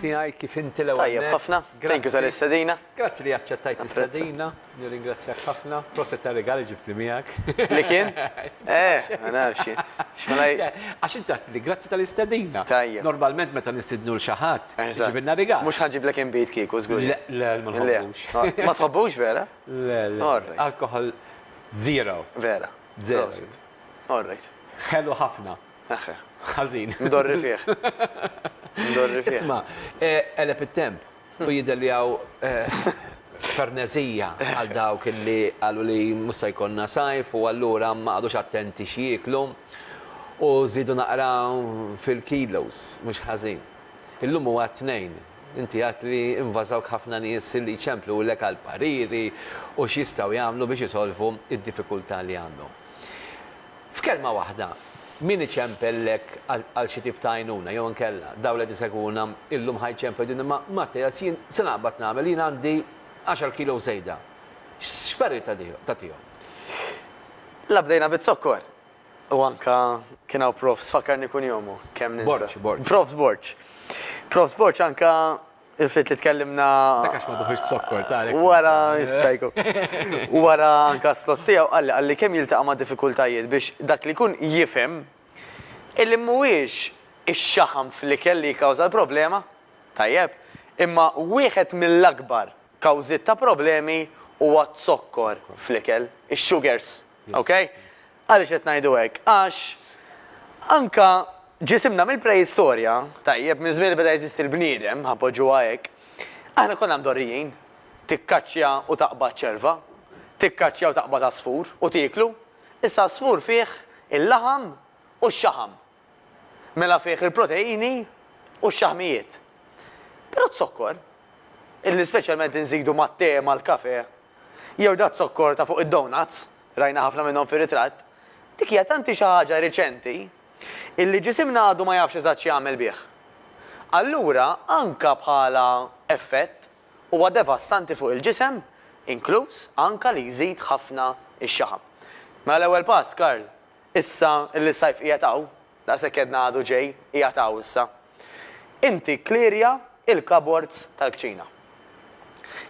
tiegħi kif inti l-ewwel. Tajjeb ħafna. Thank you tal-istedina. Grazzi li aċċettajt l-istedina. Nirringrazzjak ħafna. Proset ta' regali ġibt li miegħek. Li kien? Eh, ma nafx. Għax inti li grazzi tal-istedina. Tajjeb. Normalment meta nistidnu l xi ħadd Eżatt. Iġibilna rigal. Mhux ħa nġiblek inbid kieku, żgur. Le, le, ma nħobbux. Ma tħobbux vera? Le, le. Alkoħol zero. Vera. Zero. All right. Ħelu ħafna. Eħħe. Ħażin. Mdorri fih. Mdorri fih. Isma', qeleb it-temp u jidher li hawn ferneżija għal dawk li qalu li mhux se jkollna sajf u allura ma qagħdux attenti x'jieklu u żiedu naqra fil-kilos, mhux ħażin. Illum huwa t-Tnejn. Inti għedt li invażawk ħafna nies li jċemplulek għal pariri u x'jistgħu jagħmlu biex isolvu d-diffikultà li għandhom. F'kelma waħda, min iċempellek għal xi tip ta' għajnuna jew inkella dawn li qed isegwuna illum ħa jċemplu jgħidulna imma Mattias jien se naqbad nagħmel, jien għandi għaxar kilos żejda. X'parir tagħtihom? La bdejna biz-zokkor. U anka kien hawn Profs, fakkarni kun jomu, kemm ninsa. Borċ, Borċ. Profs Borċ. Profs Borċ anka il-fit li tkellimna. Dakax ma duħux zokkor ta' Wara, jistajku. Wara anka slot tiegħu qalli qalli kemm jiltaqa' ma' diffikultajiet biex dak li kun jifhem illi mhuwiex ix-xaħam fl-ikel li jikkawża l-problema, tajjeb, imma wieħed mill-akbar kawżiet ta' problemi huwa z-zokkor fl-ikel, ix-sugars. Ok? Għaliex qed ngħidu hekk? Għax anke ġisimna mill-preistorja, tajjeb, minn żmien li beda jeżisti l-bniedem, ħa poġġuha hekk, aħna konna mdorrijin. Tikkaċċja u taqbad ċerva, tikkaċċja u taqbad għasfur u tieklu. Issa għasfur fih il-laħam u x-xaħam. Mela fih il-proteini u x-xaħmijiet. Però z-zokkor, illi speċjalment inżidu mat-te, mal-kafè, jew daz-zokkor ta' fuq id-donuts, rajna ħafna minnhom fir-ritratt, dik hija tanti xi ħaġa riċenti illi ġisimna għadu ma jafx eżatt x'jagħmel bih. Allura anka bħala effett huwa devastanti fuq il-ġisem, inkluż anka li jżid ħafna x-xaħam. Mela l-ewwel pass, Karl, Issa li s-sajf qiegħed hawn, daqshekk għedna għadu ġej, qiegħed hawn issa, inti kklirja l-cupboards tal-kċina.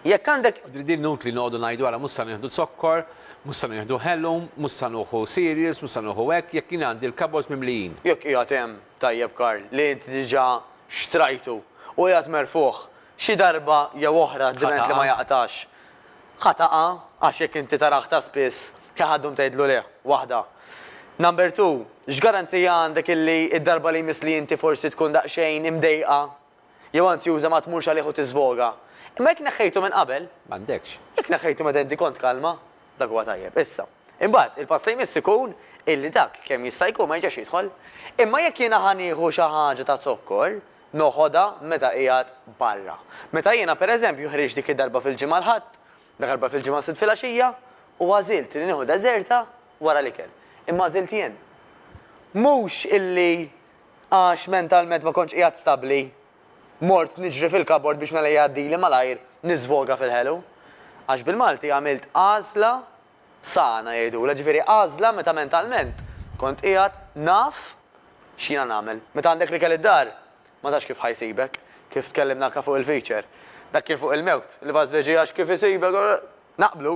Jekk għandek. Din inutli noqogħdu ngħidu ara mhux se nieħdu zokkor, mhux se nieħdu ħelum, mhux se nuħu cereals, mhux se nuħu hekk, jekk jien għandi l-cupboards mimlijin. Jekk qiegħed hemm, tajjeb Karl, li inti diġà xtrajtu u qiegħed merfugħ, xi darba jew oħra dment li ma jaqtax. Ħa taqgħa għax jekk inti tara aktar spiss ħa ħad ddum tgħidlu leh, waħda. Number two, x'garanzija għandek illi d-darba li jmiss li inti forsi tkun daqsxejn imdejqa jew anzjuża ma tmurx għalih u tiżvoga? Imma jekk neħħejtu minn qabel. M'għandekx. Jekk neħħejtu meta inti kont kalma, dak huwa tajjeb. Issa. Imbagħad, il-pass li jmiss ikun illi dak kemm jista' jkun ma jerġax jidħol. Imma jekk jiena ħa nieħu xi ħaġa ta' zokkor, noħodha meta qiegħed barra. Meta jiena, per eżempju, ħriġt dik id-darba fil-Ġimgħa l-Ħadd, dakarba fil-Ġimgħa s-Sibt filgħaxija, u għażilt li nieħu deżerta wara l-ikel. Imma għażilt jien. Mhux illi għax mentalment ma kontx qiegħed stabbli, mort niġri fil-kabord biex mela jgħaddili malajr niżvoga fil-ħelu. Għax bil-Malti għamilt għażla Sana, jgħidulha, ġifieri għażla meta mentalment kont qiegħed naf x'jiena nagħmel. Meta għandek l-ikel id-dar, ma tafx kif ħa jsibek, kif tkellimna anke fuq il-feature. Dak kien fuq il-mewt, l-ibgħat fl-irġiegħ għax kif isibek, naqblu.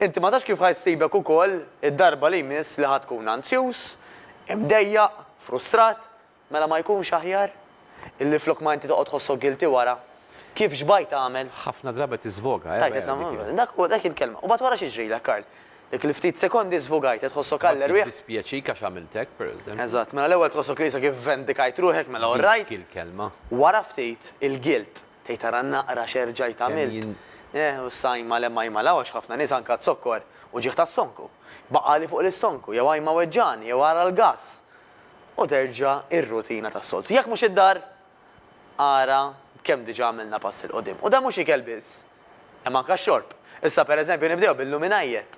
Inti ma tafx kif ħa jsibek ukoll id-darba li jmiss li ħa tkun anzjuż, imdejjaq, frustrat, Mela ma jkunx aħjar? Illi flok ma inti toqgħod tħossok guilty wara. Kif xbajt tagħmel? Ħafna drabi tiżvoga, eh, vera dik hi. Dak huwa, dak hi l-kelma. U mbagħad wara x'jiġrilek, Karl? Dik il-ftit sekondi żvogajt qed tħossok għall erwieħ. Mbagħad jiddispjaċik għax għamilt hekk, pereżempju. Eżatt. Mela l-ewwel tħossok li issa kif vendikajt ruħek, mela all right. Dik hi l-kelma. Wara ftit, il-guilt. Tgħid ara naqra x'erġajt għamilt. Eh, u issa ajma l-hemm ajma l hawn għax ħafna nies anke għad-zokkor, uġigħ tas-stonku. Baqgħali fuq l-istonku, jew ajma weġġagħni, jew ara l-gass. u terġa' r-rutina tas-soltu. Jekk mhux id-dar, ara b'kemm diġà għamilna pass 'il quddiem. U dan mhux ikel biss, imma anke x-xorb. Issa pereżempju nibdew bil-luminajjet.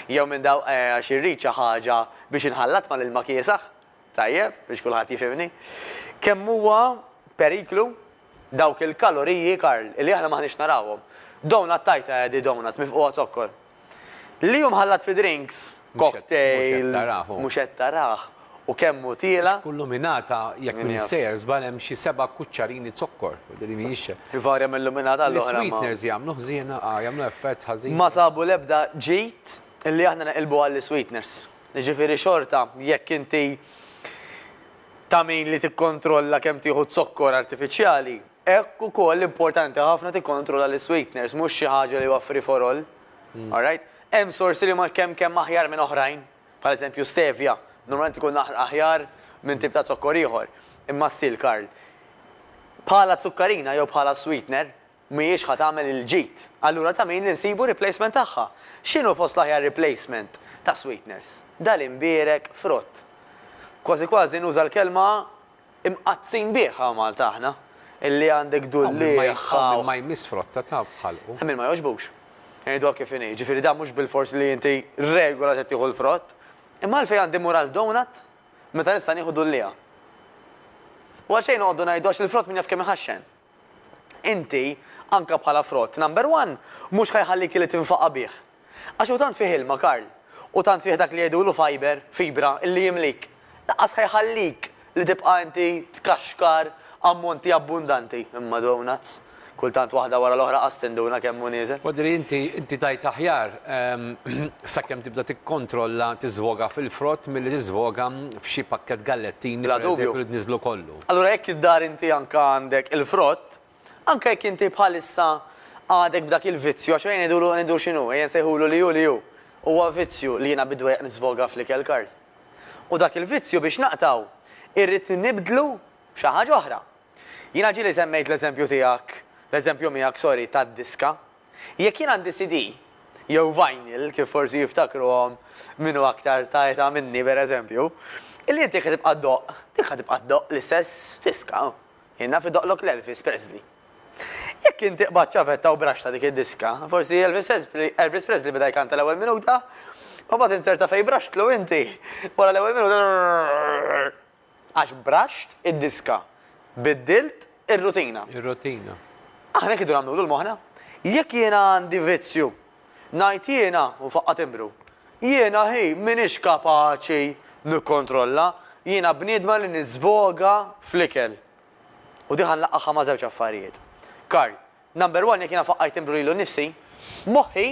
Jew minn daw, eh, għax irrid xi ħaġa biex inħallat mal-ilma kiesaħ, tajjeb, biex kulħadd jifhimni. Kemm huwa periklu dawk il-kaloriji, Karl, li aħna m'aħniex narawhom. Donut tajt, eh, di donut mifqugħa zokkor. Li hu mħallat fi drinks, cocktails, mhux qed tarah, u kemm hu tiela'. Kull luminata, jekk m'iniex sejjer żball, hemm xi seba' kuċċarini zokkor. Ivarja minn luminata għal oħra. Is-sweeteners jagħmlu ħżiena, ah, jagħmlu effett ħażin. Ma sabu l-ebda ġid li aħna neqilbu għall-isweeteners. Jiġifieri xorta, jekk inti ta' min li tikkontrolla kemm tieħu zokkor artifiċjali, Hekk ukoll importanti ħafna tikkontrolla l-isweeteners, mhux xi ħaġa li huwa free for all. Alright? Hemm sorsi li huma kemm kemm aħjar minn oħrajn, bħal eżempju stevia, normalment ikun aħjar minn tip ta' zokkor ieħor. Imma still, Karl, bħala zukkarina jew bħala sweetener, mhijiex ħa tagħmel il-ġid. Allura ta' min li nsibu replacement tagħha? X'inhu fost l-aħjar replacement ta' sweeteners? Dal-imbierek frott. Kważi kważi nuża l-kelma Imqaddsin bih hawn Malta aħna, illi għandek Dulliech. Hawn min ma jmiss frotta ta' b'ħalqu. Hemm min ma jogħġbux. Ngħiduha kif inhi. Jiġifieri dan mhux bilfors li inti regola se tieħu l-frott. Imma għalfejn għandi mmur għal donut meta nista' nieħu dulliegħa? U għalxejn noqogħdu ngħidu għax il-frott min jaf kemm iħaxxen. Inti, anke bħala frott number one, mhux ħa jħallik illi tinfaqa' bih. Għax hu tant fih ilma, Karl, u tant fih dak li jgħidulu fiber, fibra, illi jimlik. Lanqas ħa jħallik li tibqa' inti tkaxkar ammonti abbundanti. Imma donuts! Kultant waħda wara l-oħra qas tinduna kemm hu nieżel. Wadri inti, inti tgħid aħjar, sakemm tibda tikkontrolla tiżwoga fil-frott milli tiżwoga f'xi pakkett gallettini, pereżempju, li tniżżlu kollu. Allura jekk id-dar inti anke għandek il-frott, anke jekk inti bħalissa għadek b'dak il-vizzju, għax ejja ngħidulu, ngħidu x'inhu, ejja nsejħulu li hu li hu, huwa vizzju li jiena bid-dwejjaq nisfoga fl-ikel, Karl. U dak il-vizzju biex naqtgħu irrid nibdlu b'xi ħaġa oħra. Jiena ġieli semmejt l-eżempju tiegħek, l-eżempju miegħek, sorry, tad-diska, Jekk jien għandi CD, jew vinyl, kif forsi jiftakruhom min hu aktar ta' età minni pereżempju, li inti jekk ħa tibqa' ddoqq, dik ħa tibqa' ddoqq l-istess diska. Jien naf idoqqlok l-Elvis Presley. Jekk inti qbadt ċavetta u braxxta dik id-diska, forsi Elvis Presley beda jkanta l-ewwel minuta, u mbagħad insert ta' fejn braxxtlu inti, wara l-ewwel minuta. Għax braxt id-diska. Biddilt ir-rutina. Ir-rutina. Aħna hekk idu nagħmlu tul moħħna. Jekk jiena għandi vizzju, ngħid jiena, u faqqa' timbru. Jiena hi m'iniex kapaċi nikkontrolla, jiena bniedma li niżvoga fl-ikel. U di ħa nlaqqagħha ma' żewġ affarijiet. Karl, Number one jekk jiena faqqajt timbru lilu nnifsi, moħħi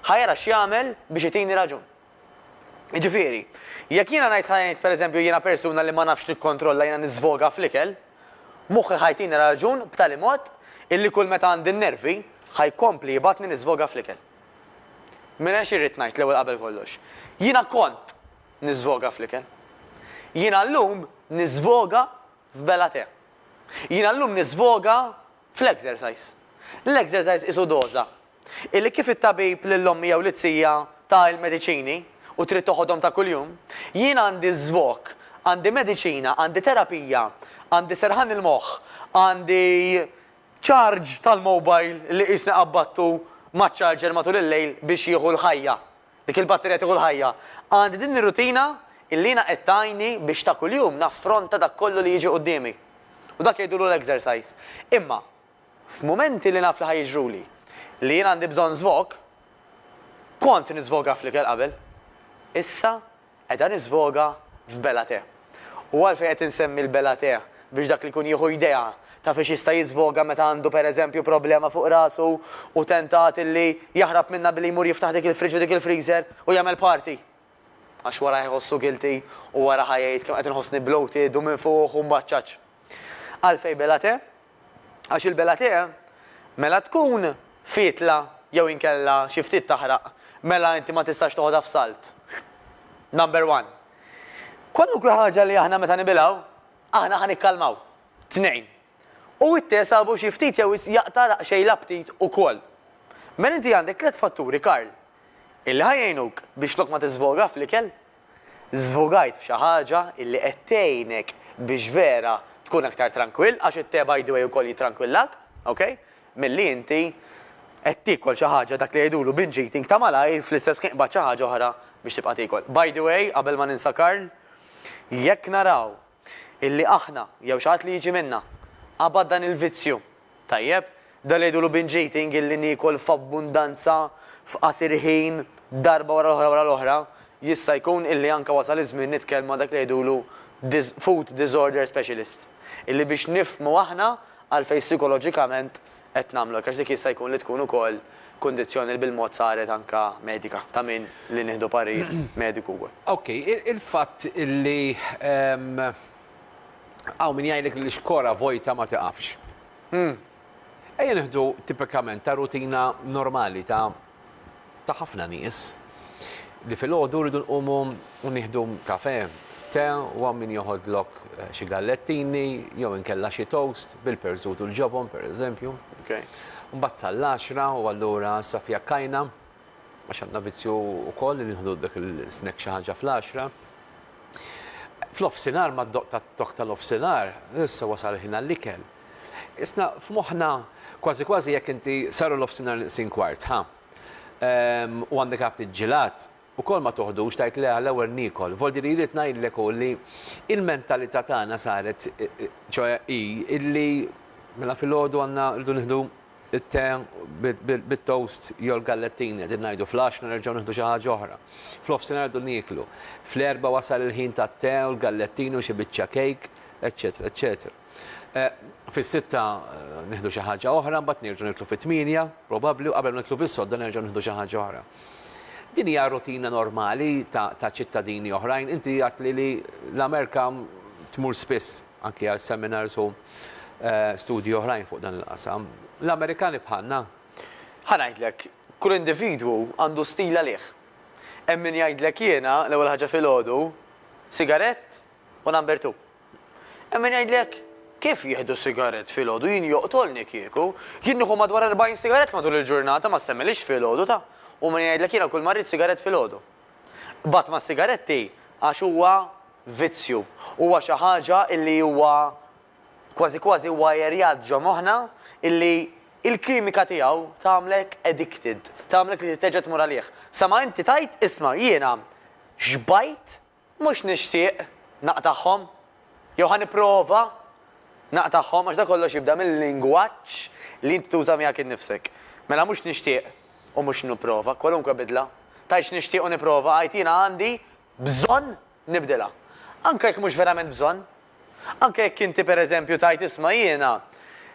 ħa jara x'jagħmel biex itini raġun. Jiġifieri, jekk jiena ngħid ħa ngħid pereżempju jiena persuna li ma nafx nikkontrolla jiena niżvoga fl-ikel, moħħi ħa jtini raġun b'tali mod illi kull meta għandi n-nervi ħa jkompli jibgħatni niżvoga fl-ikel. Mela xi rrid ngħid l-ewwel qabel kollox? Jiena kont niżvoga fl-ikel. Jiena llum niżvoga f'bela tè. Jiena llum niżvoga fl-exercise. L-exercise qisu doża Illi kif it-tabib lill-ommi jew lit-tija ta il-mediċini u trid toħodhom ta' kuljum, jien għandi żvok, għandi mediċina, għandi terapija, għandi serħan il-moħħ, għandi charge tal-mobile li qisni qabbattu maċ-charger matul il-lejl biex jieħu l-ħajja, dik il-batterija tieħu l-ħajja. Għandi din ir-rutina illi jiena qed tgħinni biex ta' kuljum naffronta dak kollu li jiġi quddiemi. U dak jgħidulu l-exercise. Imma. F'mumenti li naf li ħa jiġruli li jien għandi bżonn żvog, kont niżvoga fl-ikel qabel. Issa qiegħda niżvoga f'bela te. U għalfejn qed insemmi l-bela te biex dak li jkun jieħu idea ta' fiex jista' jiżvoga meta għandu pereżempju problema fuq rasu u tentat illi jaħrab minnha billi jmur jiftaħ dik il-fridge u dik il-freezer u jagħmel party. Għax wara ħa jħossu guilty u wara ħa jgħid kemm qed inħossni bloated u minfuħ u mbaċċaċ. Għalfejn bela te? Għax il-Bellaté mela tkun fietla jew inkella xi ftit taħraq mela inti ma tistax toħodha f'salt. Number one. Kwalunkwe ħaġa li aħna meta nibilgħu, aħna ħa nikkalmaw. Tnejn. U it-te sabu xi ftit jew wisq jaqta' daqsxejn l-aptit ukoll. Mela inti għandek tliet fatturi, Karl, illi ħa jgħinuk biex flok ma tiżvoga fl-ikel, Żvugajt f'xi ħaġa illi qed tgħinek biex vera tkun aktar trankwill, għax it-te by the way ukoll jitrankwillak, ok, milli inti qed tiekol xi ħaġa dak li jgħidulu binge eating ta' malajr fl-istess ħin qbadt xi ħaġa oħra biex tibqa' tiekol. By the way, qabel ma ninsa Karl, jekk naraw illi aħna, jew xi ħadd li jiġi minna, qabad dan il-vizzju. Tajjeb? Dan li jgħidulu binge eating illi niekol f'abbundanza f'qasir ħin darba wara l-oħra wara l-oħra, jista' jkun illi anke wasal iż-żmien nitkellmu ma' dak li jgħidulu food disorder specialist. Illi biex nifhmu aħna għalfejn sikoloġikament qed nagħmlu hekk għax dik jista' jkun li tkun ukoll kundizzjoni li bil-mod saret anke medika ta' min li nieħdu parir mediku wkoll. Ok, il-fatt li hawn min jgħidlek li xkora vojta ma tiqafx. Ejja nieħdu tipikament ta' rutina normali ta' ta' ħafna nies li filgħodu rridu nqumu u nieħdu kafè, te u hawn min joħodlok xi gallettini jew inkella xi toast bil-perżut u l-ġobon pereżempju. Mbagħad sal-għaxra u allura issa fiha kajna għax għandna vizzju wkoll li nieħdu dak il-snack xi ħaġa fl-għaxra. F'nofsinhar mad-doqq tat-tokk tal-nofsinhar issa wasal il-ħin għall-ikel. Isna' f'moħħna kważi kważi jekk inti saru l-ofsinhar nqsin kwart, ħa? Ehm, u għandek għabt iġġilat, ukoll ma toħdux tgħid le għall-ewwel niekol. Voldi li rrid ngħidlek hu li l-mentalità tagħna saret, ċoe hi illi mela filgħodu għandna rridu nieħdu t-te bit-toast jew l-gallettini, qegħdin ngħidu fl-għaxna nerġgħu nieħdu xi ħaġa oħra. Fl-ofsinhar rridu nieklu. Fl-erbgħa wasal il-ħin tat-te u l-gallettini u xi biċċa kejk, eċċetera, eċċetera. Fis-sitta nieħdu xi ħaġa oħra, mbagħad nerġgħu niklu fit-tmienja, probabbli, u qabel ma niklu fis-sodda nerġgħu nieħdu xi ħaġa oħra. Din hija rutina normali ta' ċittadini oħrajn. Inti għadtli li l-Amerika tmur spiss anki għal seminars u eh, studji oħrajn fuq dan il-qasam. L-Amerikani bħalna. Ħa ngħidlek, kull individwu għandu stil għalih. Hemm min jgħidlek jiena l-ewwel ħaġa filgħodu, sigarett u number two. Hemm min jgħidlek, Kif jieħdu sigarett filgħodu, jien joqtolni kieku. Jien nieħu madwar 40 sigarett matul il-ġurnata, ma ssemmilhiex filgħodu, ta? U min jgħidlek jiena kull ma rrid sigarett filgħodu. Qbadt mas-sigaretti għax huwa vizzju, huwa xi ħaġa illi huwa kważi kważi wwajerjat ġo moħħna illi il-kimika tiegħu tagħmlek addicted, tagħmlek li terġa' tmur għalih. Sa ma inti tgħid, isma' jiena xbajt Mhux nixtieq naqtagħhom, jew ħa nipprova naqtagħhom, għax dan kollox jibda mil-lingwaġġ li inti tuża miegħek innifsek. Mela mhux nixtieq u mhux nipprova, kwalunkwe bidla, tgħidx nixtieq u nipprova, għid jiena għandi bżonn nibdilha. Anke jekk mhux verament bżonn. Anke jekk inti pereżempju tgħid isma' jiena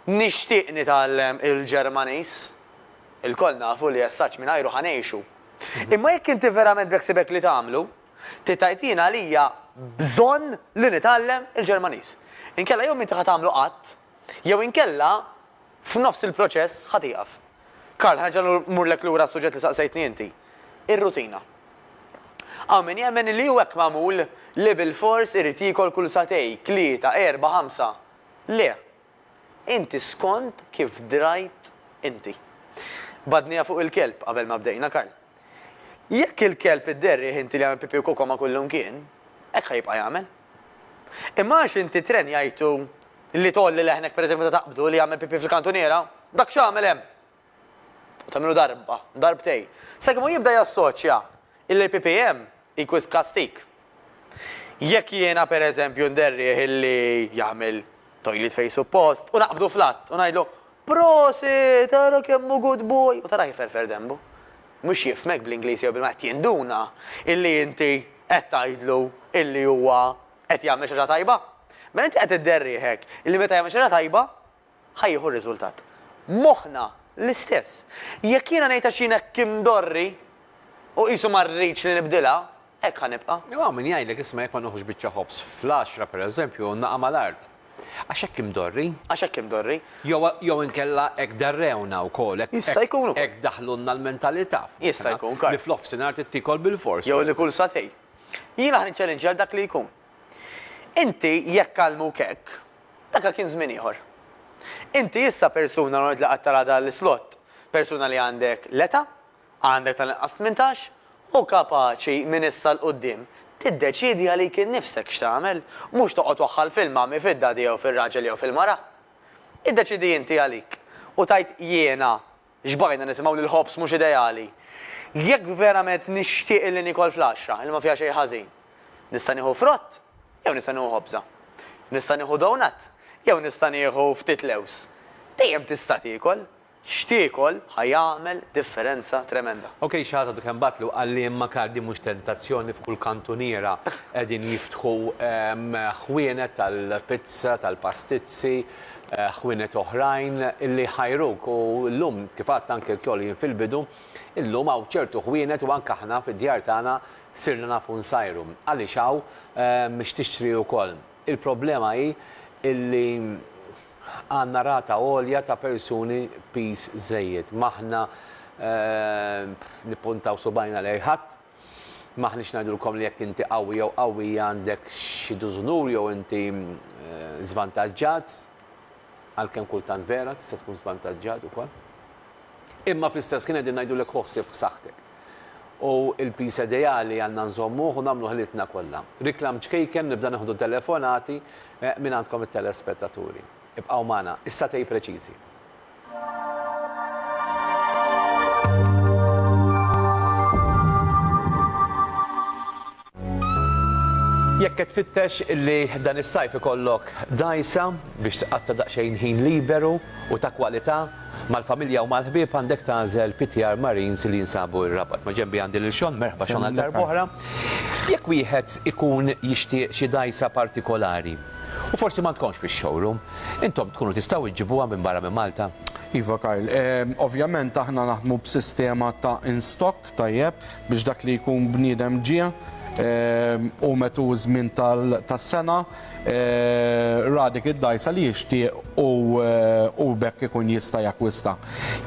nixtieq nitgħallem il-Ġermaniż. Ilkoll nafu li essaġġ mingħajru ħa ngħixu. Imma jekk inti verament beħsiebek li tagħmlu, Titgħid jien għalija bżonn li nitgħallem il-Ġermaniż. Inkella jew m'inti ħa tagħmlu qatt, jew inkella f'nofs il-proċess ħa tieqaf. Karl, ħa nerġa' mmurlek lura għas-suġġett li saqsejtni inti. Ir-rutina. Hawn min jemmen li hu hekk magħmul li bilfors irid jiekol kull sagħtej, tlieta, erbgħa, ħamsa. Le, Inti skond kif drajt inti. Badniha fuq il-kelb qabel ma bdejna Karl. Jekk il-kelb idderrih inti li jagħmel pipì u koko ma' kullumkien, hekk ħa jibqa' jagħmel. Imma għax inti trenjajtu li tgħolli leħnek pereżempju meta taqbdu li jagħmel pipì fil-kantuniera, dak x'għamel hemm? u tagħmilu darba, darbtejn, sakemm hu jibda jassoċja illi PPM hi wisq kastig. Jekk jiena pereżempju nderrieh illi jagħmel toilet fejn suppost u naqbdu fl-att u ngħidlu, Prosit, ara kemm hu good boy! u tarah iferfer denbu. Mhux jifhmek bl-Ingliż jew bil-Malti, qed jinduna illi inti qed tgħidlu illi huwa qed jagħmel xi ħaġa tajba. Mela inti qed idderrieh hekk illi meta jagħmel xi ħaġa tajba, ħa jieħu r-riżultat. Moħħna l-istess. Jekk jiena ngħid għax jien hekk imdorri u qisu ma rridx li nibdilha, hekk ħa nibqa'. Jew hawn min jgħidlek isma' jekk ma nieħux biċċa ħobż fl-għaxra, pereżempju, u naqa' mal-art. Għax hekk imdorri. Għax hekk imdorri. Jew jew inkella hekk darrewna wkoll, hekk Jista' jkun ukoll. hekk daħlulna l-mentalità. Jista' jkun, Karl. Li f'nofsinhar trid tiekol bilfors. Jew li kull sagħtejn. Jiena ħa niċċalinġja lil dak li jkun. Inti jekk għallmuk hekk, Daka kien żmien ieħor. Inti issa persuna normalment li qatt taraha dan l-islott, persuna li għandek l-età, għandek tal-inqas tmintax, u kapaċi minn issa 'l quddiem tiddeċiedi għalik innifsek x'tagħmel, mhux toqgħod waħħal fil-mommy, fid-daddy jew fir-raġel jew fil-mara. Iddeċiedi inti għalik u tgħid jiena Xbaqajna nisimgħu li l-ħobż mhux ideali. Jekk verament nixtieq illi niekol flaxxa illi ma fiha xejn ħażin, nista' nieħu frott jew nista' nieħu ħobża? Nista' nieħu donut jew nista' nieħu ftit lewż? Dejjem tista' tiekol. X'tiekol ħa jagħmel differenza tremenda. Ok, xi ħadd għadu kemm bagħatlu qal li imma kard din mhux tentazzjoni f'kull kantuniera qegħdin jiftħu ħwienet tal-pizza, tal-pastizzi, ħwienet oħrajn li jħajruk u llum kif għadt anke lkoll jien fil-bidu, illum hawn ċertu ħwienet u anke aħna fid-djar tagħna sirna nafu nsajru. Għaliex hawn x'tixtri wkoll. Il-problema hi illi għandna rata għolja ta' persuni piż żejjed. M'aħna nippuntaw subgħajna lejn ħadd. M'aħniex ngħidulkom li jekk inti qawwi jew qawwija għandek xi dużunur jew inti żvantaġġat, għalkemm kultant vera tista' tkun żvantaġġat ukoll. Imma fl-istess ħin qegħdin ngħidulek ħu ħsieb b'saħħtek. U l-piż ideali għandna nżommuh u nagħmlu ħilitna kollha. Reklam ċkejken nibda nieħdu telefonati minn għandkom it-telespettaturi. Ibqgħu magħna, is-satej preċiżi. Jekk qed tfittex li dan is-sajf ikollok dgħajsa biex tqatta' daqsxejn ħin liberu u ta' kwalità mal-familja u mal-ħbieb għandek tagħżel PTR Marines li jinsabu r-Rabat. Ma' ġenbi għandi lil Sean, merħba Sean għal darb'oħra. Jekk wieħed ikun jixtieq xi dgħajsa partikolari, U forsi ma tkonx fix-showroom. Intom tkunu tistgħu iġġibuha minn barra minn Malta? Iva Karl, ovvjament aħna naħdmu b'sistema ta' in stock tajjeb biex dak li jkun bniedem ġie u metu ż-żmien tas-sena ra dik id-dgħajsa li jixtieq u b'hekk ikun jista' jakkwista.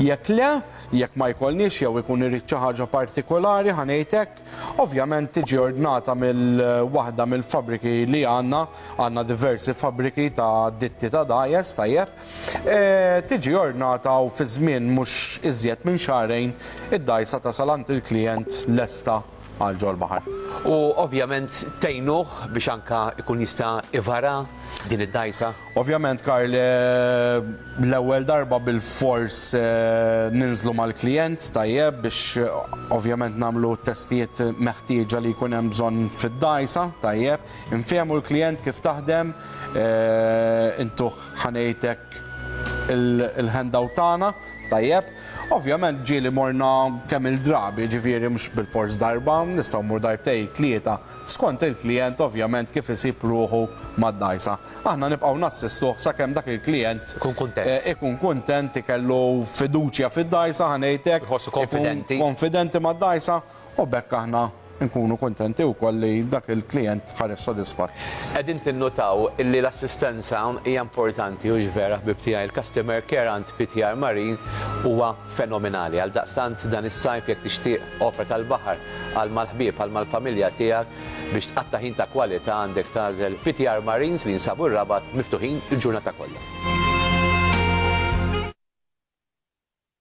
Jekk le, jekk ma jkollniex jew ikun irid xi ħaġa partikolari ħa ngħid hekk, Ovvjament tiġi ordnata mill-waħda mill-fabbriki li għandna, għandna diversi fabbriki ta' ditti ta' dajes, tajjeb, e, tiġi ordnata u fi żmien mhux iżjed minn xahrejn id-dgħajsa tasal għand il-klijent lesta għal ġol-baħar. U ovvjament tgħinuh biex anke jkun jista' ivara din id-dgħajsa? Ovvjament Karl, l-ewwel darba bilfors ninżlu mal-klijent, tajjeb, biex ovvjament nagħmlu t-testijiet meħtieġa li jkun hemm bżonn fid-dgħajsa, tajjeb, infehmu l-klijent kif taħdem, intuh ħa ngħid hekk il-handout tagħna, tajjeb. Ovvjament ġieli morna kemm-il drabi, jiġifieri mhux bilfors darba, nistgħu mmur darbtejn, tlieta, skont il-klijent ovvjament kif isib ruħu mad-dgħajsa. Aħna nibqgħu nassistuh sakemm dak il-klijent ikun kuntent, ikellu fiduċja fid-dgħajsa, ħa ngħid hekk, ikun konfidenti mad-dgħajsa, u b'hekk aħna nkunu kuntenti wkoll li dak il-klijent ħareġ sodisfatt. Qegħdin tinnutaw li l-assistenza hija importanti, hux vera, ħbieb tiegħi? Il-customer care għand PTR Marine huwa fenomenali. Għaldaqstant, dan is-sajf, jekk tixtieq opra tal-baħar għal mal-ħbieb, għal mal-familja tiegħek, Biex tqatta' ħin ta' kwalità għandek tagħżel PTR Marines li jinsabu r-Rabat miftuħin il-ġurnata kollha.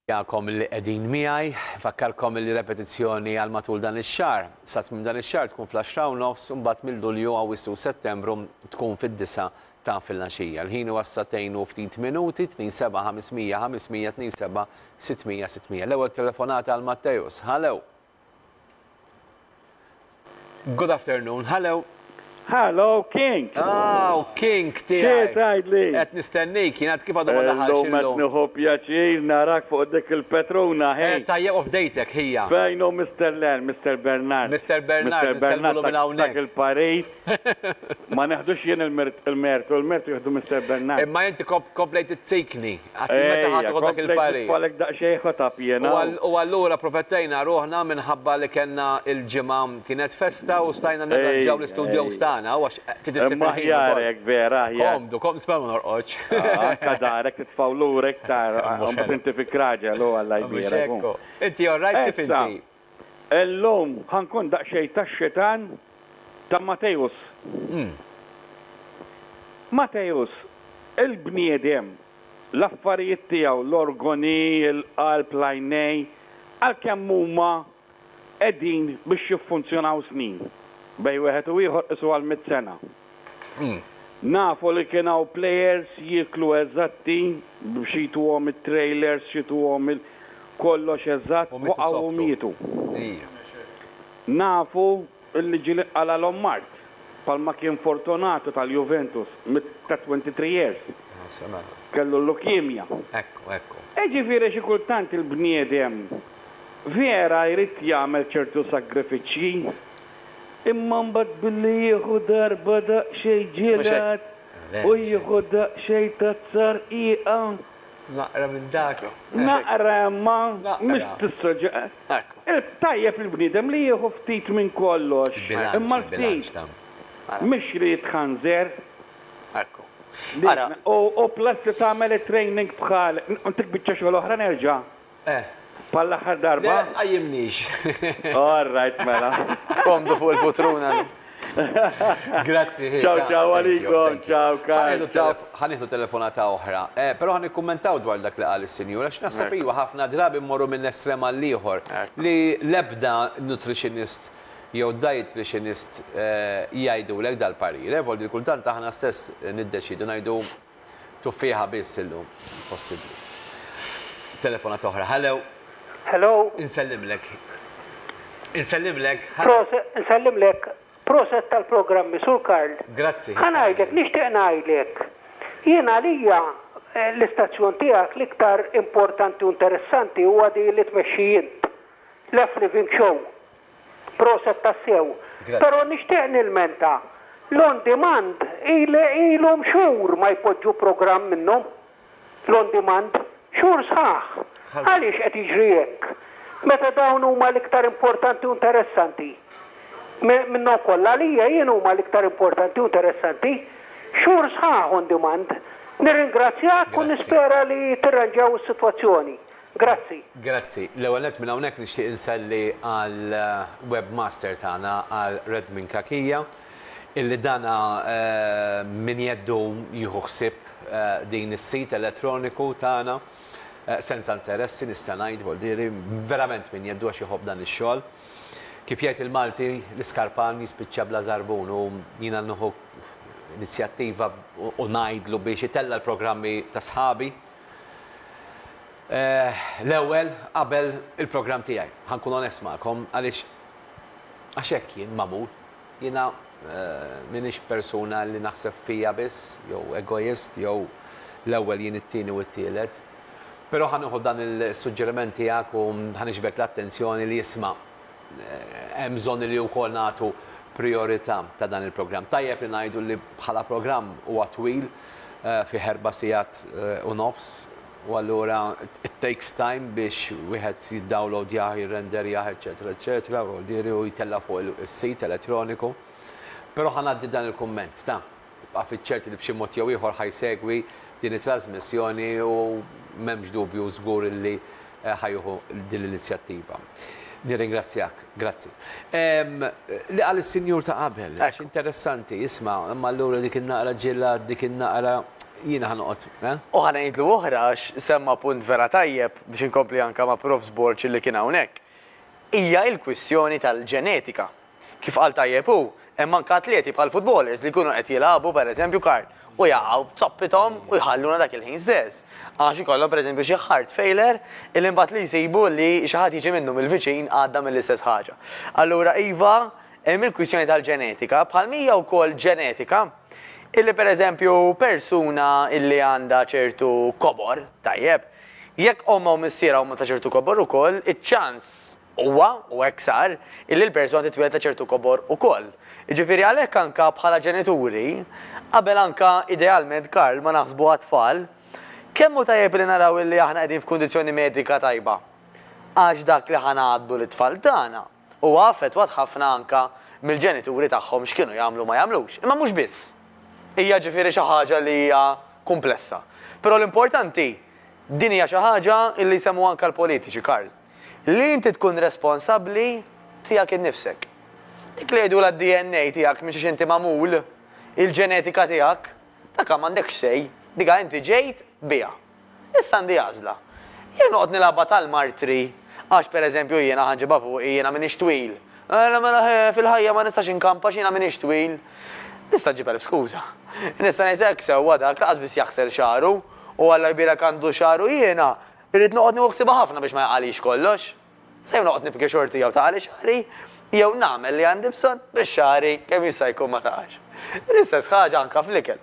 Nirringrazzjakom li qegħdin miegħi. Nfakkarkom li repetizzjoni għal matul dan ix-xahar. Sa tmiem dan ix-xahar tkun fl-għaxra u nofs u mbagħad minn Lulju, Awwissu u Settembru tkun fid-disgħa ta' filgħaxija. Il-ħin huwa s-sagħtejn u ftit minuti, 2 7 500 500 2 7 600 600. L-ewwel telefonata għal Matteus. Hallo! Good afternoon, hello. Hello, King. Ah, u King tiegħi. Xejn tgħidli. Qed nistennik, jien għad kif għadu ma daħalx. Illum qed nieħu pjaċir narak fuq dik il-Petruna ħin. Eh, tajjeb u bdejtek ħija. Fejn hu Mr. Len, Mr. Bernard. Mr. Bernard, Mr. Bernard minn hawnhekk. Il-Paris. Ma neħdux jien il-mertu, il-mertu jieħdu Mister Bernard. Imma inti komplejt izzikni, għad meta ħadd iħu dak il-parir. Komplejt nitfalek daqsxejn ħotab jiena. U allura protettejna ruħna minħabba li kellna il-ġimgħa kienet festa u stajna nirranġaw l-istudjows tagħna għax trid issib il-ħin. Aħjar hekk vera, aħjar. Komdu, komdu, nisma' ma norqodx. Anke darek titfgħu lura iktar, inti fik raġel u Alla jbierek. Inti all right kif inti? Illum ħa nkun daqsxejn tax-xitan ta' Matteus. Matteus, il-bniedem, l-affarijiet tiegħu, l-organi, il-qalb, l-għajnejn, għalkemm huma qegħdin biex jiffunzjonaw snin, bejn wieħed u ieħor qisuha l-mitt sena. Nafu li kien hawn players jieklu eżatti biex jituhom it-trailers xituhom il kollox eżatt waqgħu u mietu. Nafu li ġieli qalalhom mard bħalma kien Fortunato tal-Juventus ta' 23 years kellu l-leukemia. Iġifieri xi kultant il-bniedem vera jrid jagħmel ċertu sagrifiċċji. Imma mbagħad billi jieħu darba daqsxejn ġelat u jieħu daqsxejn tazza rqiqa. Naqra minn dak. Naqra imma mhux tissogġa. Tajjeb il-bniedem li jieħu ftit minn kollox, imma l-ftit mhux li jitħanżer. Ekku. Ara. U plus li tagħmel it-training bħal dik biċċa xogħol oħra nerġa' Eh. Bħal l-aħħar darba? Le, tqajjimnix. All right, mela. Komdu fuq il-putruna. Grazzi. Ciao, ciao, għalikom, ciao, Karl. Ħaniħdu telefonata oħra, eh, pero ħan ikkummentaw dwar dak li qal is-sinjura, x'naħseb iwa ħafna drabi mmorru minn estrema l-ieħor li lebda nutritionist jew dietitianist eh, jgħidulek dal-parire, eh, voldi kultant aħna stess niddeċidu ngħidu Tuffieħa biss illum possibbli. Telefonata oħra. Hello. Hello. Insellimlek. Insellimlek. Proset, insellimlek. Proset tal-programmi, Sur Karl. Grazzi. Ħa ngħidlek, nixtieq ngħidlek. Jien għalija eh, l-istazzjon tiegħek l-iktar importanti u interessanti huwa di li tmexxi int. L-F Living Show. Proset tassew. Pero nixtieq nilmenta. L-on demand ilhom xhur ma jpoġġu programm minnu. L-on demand. Xhur sħaħ. Għaliex qed jiġri hekk? Meta dawn huma l-iktar importanti u interessanti. Minnhom kollha għalija jien huma l-iktar importanti u interessanti. Xhur sħaħ on demand. Nirringrazzjak u nispera li tirranġaw is-sitwazzjoni. Grazzi. Grazzi. L-ewwel nett minn hawnhekk nixtieq inselli għal webmaster tagħna għal Red Minn Kakija illi dan minn jeddu jieħu ħsieb din is-sit elettroniku tagħna senza interessi nista' ngħid voldieri verament minn jeddu għax iħobb dan ix-xogħol. Kif jgħid il-Malti l-iskarpan jispiċċa bla żarbun u jiena nieħu inizjattiva u ngħidlu biex itella' l-programmi ta' sħabi, L-ewwel, qabel il-programm tiegħi. Ħa nkun onest magħkom, għaliex għax hekk jien magħmul. Jiena m'iniex persuna li naħseb fija biss, jew egoist, jew l-ewwel jien it-tieni u t-tielet. Però ħa nieħu dan is-suġġeriment tiegħek u ħa niġbed l-attenzjoni li isma'. Hemm bżonn li wkoll nagħtu prijorità ta' dan il-programm. Tajjeb li ngħidu li bħala programm huwa twil, fih erba' sigħat u nofs, u allura it takes time biex wieħed jiddawlowdjah, jirrenderjah, eċċetera, eċċetera, u jittella' fuq is-sit elettroniku. Però ħa ngħaddi dan il-kumment ta'. Ibqa' fiċ-ċert li b'xi mod jew ieħor ħa jsegwi din it-trażmissjoni u m'hemmx dubju żgur li ħa jieħu din l-inizjattiva. Nirringrazzjak. Grazzi. Ehm, li qal is-sinjur ta' qabel, għax interessanti, isma', imma allura dik in-naqra ġilla, dik in-naqra jiena ħanoqgħod, eh? U ħa ngħidlu oħra għax semma punt vera tajjeb biex inkompli anke ma' Prof. Borg li kien hawnhekk. Hija l-kwistjoni tal-ġenetika. Kif qal tajjeb hu, hemm anke atleti bħal futbolers li jkunu qed jilagħbu, per eżempju, kart u jaqgħu b'zoppithom u jħalluna dak il-ħin stess. Għax ikollhom per eżempju xi heart failure illi imbagħad li jsibu li xi ħadd jiġi minnhom il-viċin għadda mill-istess ħaġa. Allura iva, hemm il-kwistjoni tal-ġenetika, bħalma hija wkoll ġenetika illi per eżempju persuna illi għandha ċertu kobor, tajjeb, jekk ommha u missierha huma ta' ċertu kobor ukoll, iċ-ċans Huwa, u hekk sar, illi l-persuna titwieled ta' ċertu kobor ukoll. Jiġifieri għalhekk anka bħala ġenituri, qabel anka idealment Karl ma naħsbu għat-tfal, kemm hu tajjeb illi naraw illi aħna qegħdin f'kundizzjoni medika tajba. Għax dak li ħa ngħaddu lit-tfal tagħna huwa affettwat ħafna anka mill-ġenituri tagħhom x'kienu jagħmlu u ma jagħmlux. Imma mhux biss. Hija ġifieri xi ħaġa li hija kumplessa. Però l-importanti, din hija xi ħaġa illi jsemmu anka l-politiċi, Karl. Li inti tkun responsabbli tiegħek innifsek. Dik li jgħidulha d-DNA tiegħek minn xiex inti magħmul, il-ġenetika tiegħek, dakha m'għandekx say, dikha inti ġejt biha. Issa għandi għażla. Jew noqgħod nilgħabha tal-martri, għax per eżempju jiena ħa nġibha fuqi, jiena m'iniex twil. Mela mela ħe, fil-ħajja ma nistax inkamp għax jiena m'iniex twil. Nista' nġib elf skuża. Nista' ngħid hekk sewwa dak, lanqas biss jaħsel xagħru, u Alla jbierek għandu xagħru jiena, Irrid noqgħod nieħu ħsiebha ħafna biex ma jaqagħlix kollox. Se jew noqgħod nibki xorti jew taqagħli xagħri, jew nagħmel li għandi bżonn biex xagħri kemm jista' jkun ma taqax. L-istess ħaġa anke fl-ikel.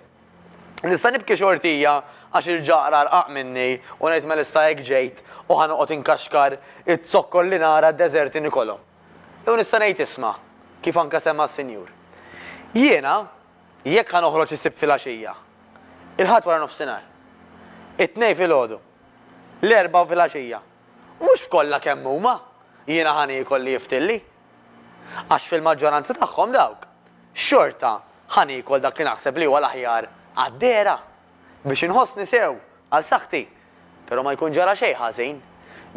Nista' nibki xortija għax il-ġaqra rqaq minni u ngħid mela issa hekk ġejt u ħa noqgħod inkaxkar iz-zokkor li nara d-deżerti nikolhom. Jew nista' ngħid isma', kif anke semma s-Sinjur. Jiena, Jekk ħa noħroġ is-Sibt filgħaxija, il-Ħadd waranofsinhar, it-Tnejn filgħodu, l-Erbgħa filgħaxija, mhux f'kollha kemm huma jiena ħa niekol li jiftilli. Għax fil-maġġoranza tagħhom dawk, xorta ħa niekol dak li naħseb li huwa l-aħjar għad-dehra, biex inħossni sew għal saħħti, però ma jkun ġara xejn ħażin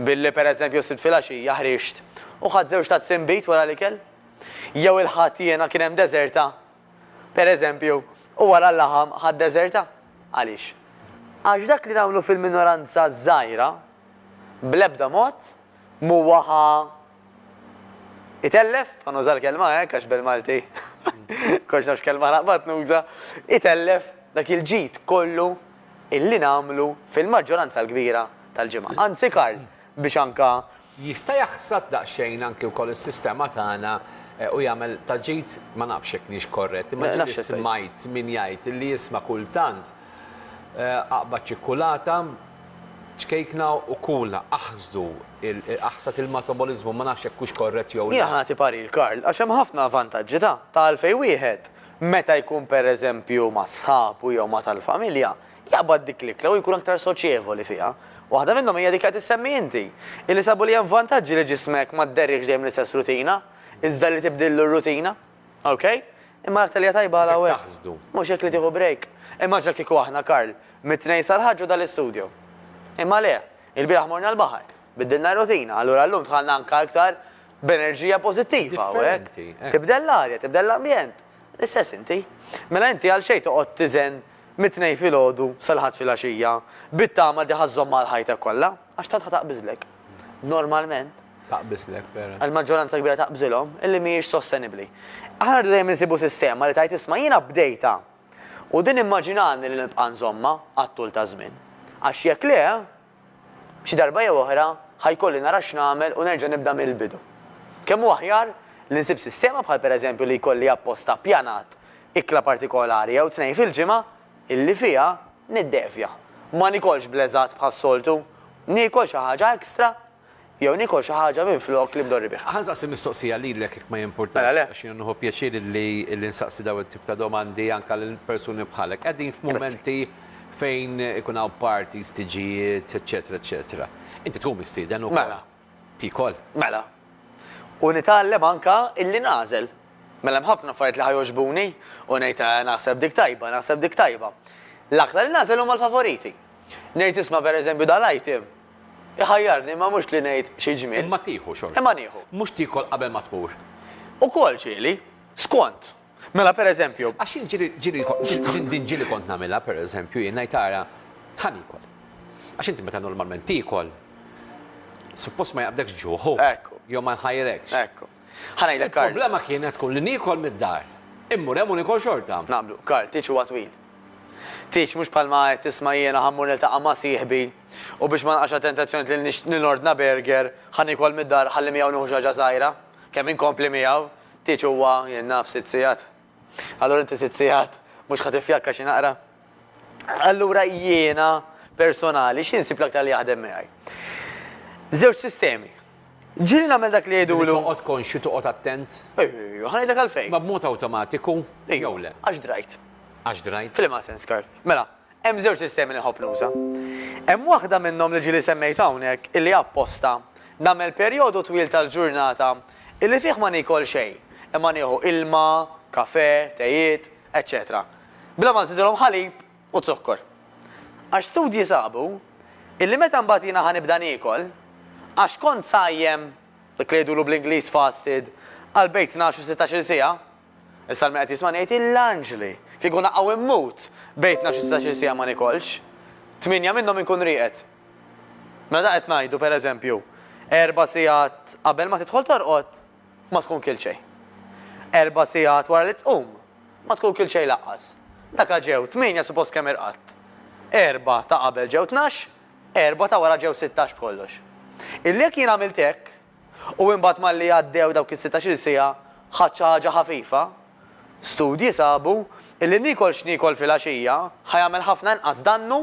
billi pereżempju s-Sibt filgħaxija ħriġt u ħadt żewġ tazzi nbid wara l-ikel. Jew il-Ħadd jiena kien hemm deżerta, per eżempju, u wara l-laħam Ħadd deżerta. Għaliex? Għax dak li nagħmlu fil-minoranza żgħira bl-ebda mod m'huwa ħa itellef, ħa nuża l-kelma hekk għax bil-Malti kollox nafx kelma naqbad nuża, itellef dak il-ġid kollu illi nagħmlu fil-maġġoranza l-kbira tal-ġimgħa. Anzi Karl, biex anka Jista' jaħsad daqsxejn anki wkoll is-sistema tagħna u jagħmel ta' ġid, ma nafx jekk niex korrett, imma ġieli smajt min jgħid li jisma' kultant aqbad ċikkulata, ċkejkna u kulha, aħsdu, aħsad il-mataboliżmu, ma nafx jekk hux korrett jew le. Jiena ħa nagħti parir, Karl, għax hemm ħafna vantaġġi ta' ta' għalfejn wieħed meta jkun pereżempju ma' sħabu jew ma' tal-familja, jaqbad dik l-ikla u jkun aktar soċjevoli fiha. Waħda minnhom hija dik li qed issemmi inti, illi sabu li hemm vantaġġi li ġismek ma dderriehx dejjem l-istess rutina, iżda li tibdillu r-rutina. Ok? Imma l-aktar li hija tajba għal hawnhekk, mhux hekk li tieħu break. Immaġina kieku aħna, Karl, mit-Tnejn sal-Ħadd ġo dal-istudio. Imma le, ilbieraħ morna l-baħar, biddilna r-rutina, allura llum dħalna anke aktar b'enerġija pożittiva hawnhekk. Tibdel l-arja, tibdel l-ambjent. L-istess inti. Mela inti għalxejn toqgħod tiżen mit-Tnejn filgħodu sal-Ħadd filgħaxija, bit-tama li ħa żżommha għal ħajtek kollha, għax tant ħa taqbiżlek. Normalment. Taqbiżlek, vera. Il-maġġoranza kbira taqbżilhom, illi mhijiex sostenibbli. Aħna rridu dejjem insibu sistema li tgħid isma' jiena bdejtha u din immaġinani li nibqa' nżommha għat-tul taż-żmien. Għax jekk le, Xi darba jew oħra ħa jkolli nara x'nagħmel u nerġa' nibda mill-bidu. Kemm hu aħjar li nsib sistema bħal pereżempju li jkolli apposta ppjanat ikla partikolari jew tnejn fil-ġimgħa illi fiha niddevja, ma nikolx bl-eżatt bħas-soltu, niekol xi ħaġa extra, jew niekol xi ħaġa minflok li mdorri bih. Ħa nsaqsi mistoqsija lilek jekk ma jimpurtax. Mela le. Għax jiena nieħu pjaċir illi illi nsaqsi dawn it-tip ta' domandi anke lil persuni bħalek. Qegħdin f'mumenti fejn ikun hawn parties, tiġijiet, eċċetera eċċetera. Inti tkun mistieden ukoll. Mela. Tiekol. Mela. U nitgħallem anke illi nagħżel. Mela hemm ħafna affarijiet li ħa jogħġbuni u ngħid eh naħseb dik tajba, naħseb dik tajba. L-aktar li nagħżel huma l-favoriti. Ngħid isma' pereżempju dal-item. Iħajjarni, imma mhux li ngħid xi ġmiel. Imma tieħu xorta. Imma nieħu. Mhux tiekol qabel ma tmur. Ukoll ġieli. Skont. Mela pereżempju. Għax jien ġieli, ġieli, din, din ġieli kont nagħmilha pereżempju jien ngħid ara, ħa niekol. Għax inti meta normalment tiekol, suppost ma jaqbdekx ġuħ, hu. Hekk hu. Jew ma jħajrekx. Hekk hu. Ħa ngħidlek, Karl. Il-problema kienet tkun li niekol mid-dar. Immur hemm u nikol xorta. Naqblu. Karl, tieġ huwa twil. Tieġ, mhux bħalma qed tisma' jiena ħa mmur niltaqa' ma' sieħbi u biex ma nqax għat-tentazzjoni li li nordna burger, ħa niekol mid-dar, ħalli miegħu nieħu xi ħaġa żgħira. Kemm inkompli miegħu? Tieġ huwa, jien naf, sitt sigħat. Allura inti sitt sigħat mhux ħa tiffjakka xi naqra? Allura jiena personali xi nsib l-aktar li jaħdem miegħi? Żewġ sistemi. Ġieli nagħmel dak li jgħidulu. Toqgħod konxju toqgħod attent. Ejju, ħanidlek għalfejn. Ma b'mod awtomatiku jew le. Għax drajt. Għax drajt. F'liema sens, Karl. Mela, Hemm żewġ sistemi li nħobb nuża. Hemm waħda minnhom li ġieli semmejt hawnhekk illi apposta nagħmel perjodu twil tal-ġurnata illi fih ma nikol xejn, imma nieħu ilma, kafè, tejiet, eċċetera Bla ma nżidilhom ħalib u zokkor. Għax studji sabu illi meta mbagħad jiena ħa nibda niekol, għax kont sajjem, dak li jgħidulu bl-Ingliż fasted, għal bejn tnax u sittax-il siegħa. Issa l-min qed jismani jgħid illanġli! Kieku naqgħu immut bejn tnax u sittax-il siegħa ma nikolx. Tmienja minnhom inkun rieqed. Mela dan qed ngħidu pereżempju, erba' sigħat qabel ma tidħol torqod, Ma tkun kilt xejn. Erba' sigħat wara li tqum, ma tkun kilt xejn lanqas. Daka ġew tmienja suppost kemm irqadt. Erba' ta' qabel ġew tnax, erba' ta' wara ġew sittax b'kollox. Illi jekk jien għamilt hekk, u imbagħad malli għaddew dawk is-sittax-il siegħa ħadt xi ħaġa ħafifa, studji sabu illi niekol x'niekol filgħaxija ħa jagħmel ħafna inqas dannu